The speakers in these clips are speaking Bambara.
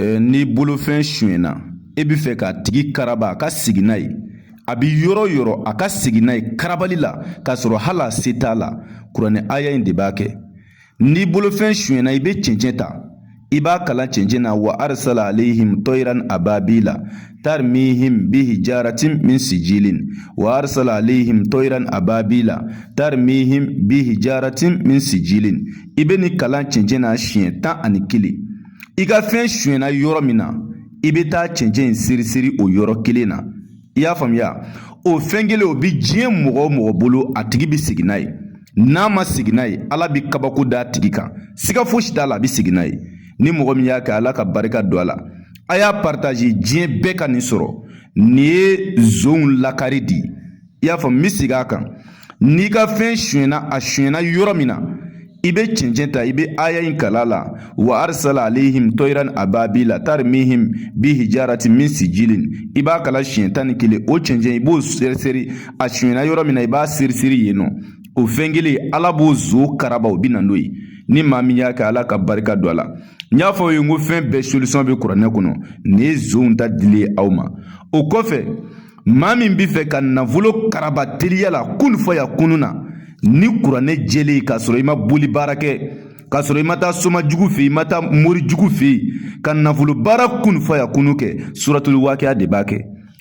n'i bolofɛn sonyɛna e bɛ fɛ k'a tigi karaba a ka segin n'a ye a bɛ yɔrɔ o yɔrɔ a ka segin n'a ye karabali la k'a sɔrɔ hali a se t'a la kuranɛ aya in de b'a kɛ n'i bolofɛn sonyɛna i bɛ cɛncɛn ta i b'a kalan cɛncɛn na wa arisala alehim tɔyiran ababila tarimihim bi hijarati min sijilin wa arisala alehim tɔyiran ababila tarimihim bi hijarati min sijilin i bɛ nin kalan cɛncɛn na siɲɛ tan ani kelen i ka fɛn sonyɛna yɔrɔ min na i bɛ taa cɛncɛn in seri seri o yɔrɔ kelen na i y'a faamuya o fɛn kelen o bɛ diɲɛ mɔgɔ o mɔgɔ bolo a tigi bɛ segin n'a ye n'a ma segin n'a ye ala bɛ kabako d'a tigi kan siga fosi t'a la a bɛ segin n'a ye ni mɔgɔ min y'a kɛ ala ka barika don a la a y'a paritaze diɲɛ bɛɛ ka nin sɔrɔ nin ye zonw lakari di i y'a faamu n bɛ segin a kan n'i ka fɛn sonyɛna a sonyɛna yɔrɔ min na i bɛ cɛncɛn ta i bɛ aya in kalan a la wa arisala alehim tɔyiran ababila tarimihim bi hijarati min sijilin i b'a kalan siɲɛ tan ni kelen o cɛncɛn i b'o seri seri a sonyɛna yɔrɔ min na i b'a seri seri yen nɔ o fɛn kelen ala b'o zon karaba o bɛ na n'o ye ni maa min y'a kɛ ala ka barika don a la n y'a fɔ aw ye n ko fɛn bɛɛ solisɔn bɛ kuranɛ kɔnɔ nin ye zonw ta dilen ye aw ma o kɔfɛ maa min bɛ fɛ ka nafolo karaba teliya la kun fayakunu na ni kuranɛ jɛlen k'a sɔrɔ i ma boli baara kɛ k'a sɔrɔ i ma taa soma jugu fɛ yen i ma taa mori jugu fɛ yen ka nafolo baara kun fayakunu kɛ suratuli wakiya de b'a kɛ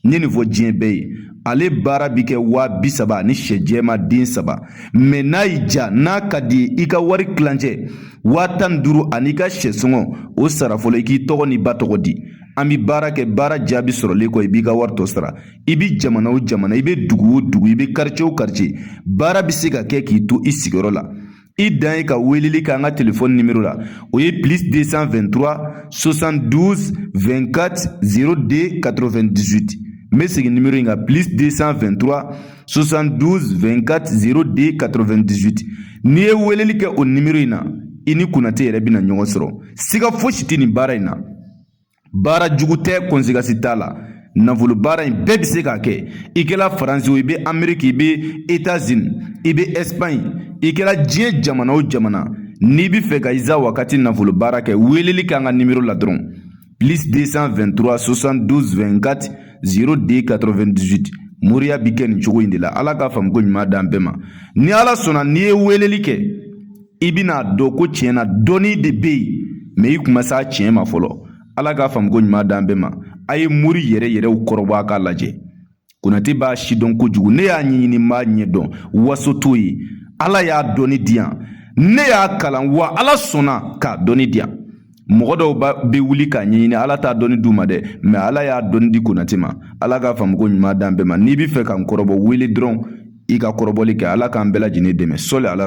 n ye nin fɔ diɲɛ bɛɛ ye ale baara bi kɛ waa bi saba ni sɛ jɛma den saba mɛ n'a y'i ja n'a ka d'i ye i ka wari kilancɛ waa tan ni duuru an'i ka sɛ sɔngɔ o sara fɔlɔ i k'i tɔgɔ n'i ba tɔgɔ di an bɛ baara kɛ baara jaabi sɔrɔlen kɔ i b'i ka wari tɔ sara i bɛ jamana o jamana i bɛ dugu o dugu i bɛ karice o karice baara bɛ se ka kɛ k'i to i sigiyɔrɔ la i dan ye ka weleli kɛ an ka telefɔni nimero la o ye plus 223 72 24 02 98 n bɛ segin nimero in kan plus 223 72 24 02 98 n'i ye weleli kɛ o nimero in na i ni konate yɛrɛ bɛna ɲɔgɔn sɔrɔ siga fosi tɛ nin baara in na baara jugu tɛ kɔnsekansi t'a la nafolo baara in bɛɛ bɛ se k'a kɛ i kɛra faransi o i bɛ ameriki i bɛ etazini i bɛ ɛsipaɲi i kɛra diɲɛ jamana o jamana n'i bɛ fɛ ka iza wakati nafolo baara kɛ weeleli k'an ka nimero la dɔrɔn plus 223 72 24 02 98 moriya bi kɛ nin cogo in de la ala ka faamuko ɲuman d'an bɛɛ ma ni ala sɔnna n'i ye weeleli kɛ i bɛna dɔn ko tiɲɛ na dɔnni de bɛ yen mɛ i kun ma s'a tiɲɛ ma fɔlɔ ala k'a faamu ko ɲuman d'an bɛɛ ma a ye mori yɛrɛ yɛrɛw kɔrɔbɔ a k'a lajɛ konate b'a sidɔn kojugu ne y'a ɲɛɲini n b'a ɲɛdɔn waso t'o ye ala y'a dɔnni di yan ne y'a kalan wa ala sɔnna k'a dɔnni di yan mɔgɔ dɔw bɛ wuli k'a ɲɛɲini ala t'a dɔnni d'u ma dɛ mɛ ala y'a dɔnni di konate ma ala k'a faamu ko ɲuman d'an bɛɛ ma n'i bɛ fɛ ka n kɔrɔbɔ wele dɔrɔn i ka kɔrɔbɔli kɛ ala k'an bɛɛ lajɛlen dɛmɛ sɔli ala